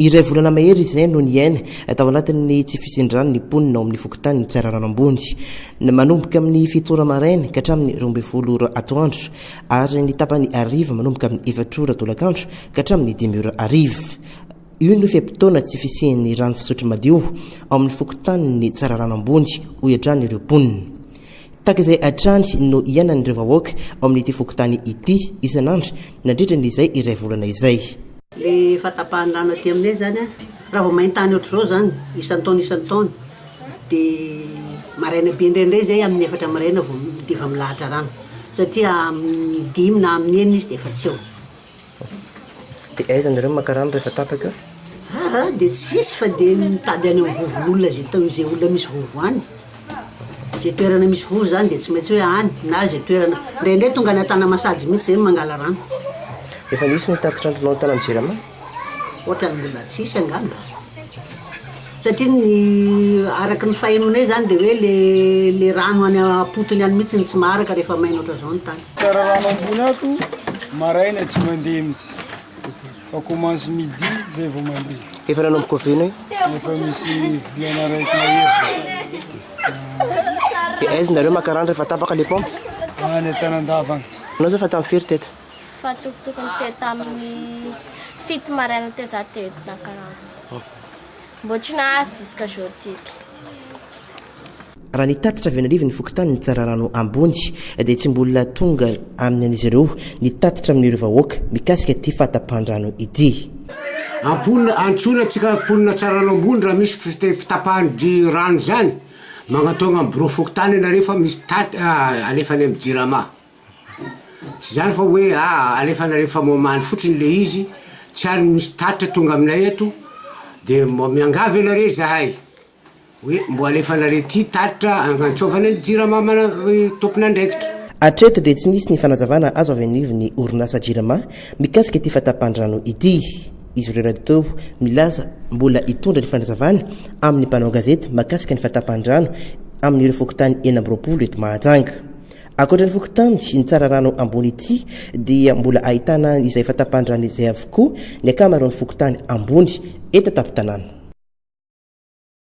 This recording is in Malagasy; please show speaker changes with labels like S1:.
S1: Iray volana mahery izay no niaina tao anatin'ny tsy fisian-drano ny mponina ao amin'ny fokontanin'i Tsararano Ambony, manomboka amin'ny fito ora maraina ka hatramin'ny roa ambin'ny folo ora atoandro, ary ny tapany hariva manomboka amin'ny efatra ora tolakandro ka hatramin'ny dimy ora hariva. Io no fe-potoana tsy fisian'ny rano fisotro madio ao amin'ny fokontanin'i Tsararano Ambony, hoy hatrany ireo mponina. Tahaka izay hatrany no iainan'ireo vahoaka ao amin'ity fokontany ity isan'andro nandritra ny izay iray volana izay. Ilay efa
S2: tapahan'ny rano aty aminay izany, raha vao main-tany ohatr'izao izany, isan-taona isan-taona, dia maraina be indraindray izay, amin'ny efatra maraina vao, dia efa milahatra rano. Satria amin'ny dimy na amin'ny enina izy dia efa tsy eo.
S1: Dia aiza nareo maka rano rehefa tapaka eo? Aa dia
S2: tsisy fa dia mitady any amin'ny vovon'olona izay tao izay olona misy vovo any. Izay toerana misy vovo izany dia tsy maintsy hoe any na izay toerana. Indraindray tonga any Antanamasazy mihitsy izay no mangala rano. Efa nisy
S1: ny tatitra antonao tany amin'ny Jirama? Ohatran'ny
S2: mbola tsisy angamba. Satria ny araka ny fahenoanay izany dia hoe ilay rano any am-potony any mihitsy no tsy maharaka rehefa maina ohatran'izao ny tany. Tsara rano ambony ato,
S3: maraina tsy mandeha mihitsy fa commence midi izay vao mandeha. Efa nanomboka oviana
S1: io? Efa misy
S3: volana raiky mahery zay.
S1: Dia aiza nareo makarany rehefa tapaka le pompe? Any Antanandava
S3: any. Anao zao efa tamin'ny firy teto?
S1: Fa tokotokony
S4: teo tamin'ny fito maraina teo za teo Takarana. Mbo tsy nahazo jusqu'à aujourd'hui. Raha
S1: ny tatitra avy any anivon'ny fokontany Tsararano Ambony dia tsy mbola tonga amin'ny an'izy ireo ny tatitra amin'ireo vahoaka mikasika ity fahatapahan-drano ity. Amponina,
S5: antsoina tsika mponina Tsararano Ambony raha misy fiteny fitapahan-dry rano izany, magnatao agnam birao fokontany ianareo fa misy tat, alefa any amin'ny jirama. Tsy izany fa hoe aa alefanareo famohamany fotsiny le izy, tsy ary misy tatitra tonga aminay eto, de mba miangavy anareo zahay hoe mbo alefanareo ity tatitra anantsovana ny jirama mana tompon'andraikitra. Hatreto dia
S1: tsy nisy ny fanazavana azo avy anivon'ny orinasa Jirama mikasika ity fahatapan-drano ity. Izy ireo rahateo milaza mbola hitondra ny fanazavana amin'ny mpanao gazety makasika ny fahatapan-drano amin'ireo fokontany enina amby roapolo eto Mahajanga. Ankoatra ny fokontany sy ny tsararano ambony ity dia mbola ahitana izay efa tapan-drano izay avokoa ny ankamaroan'ny fokontany ambony eto an-tampon-tanàna.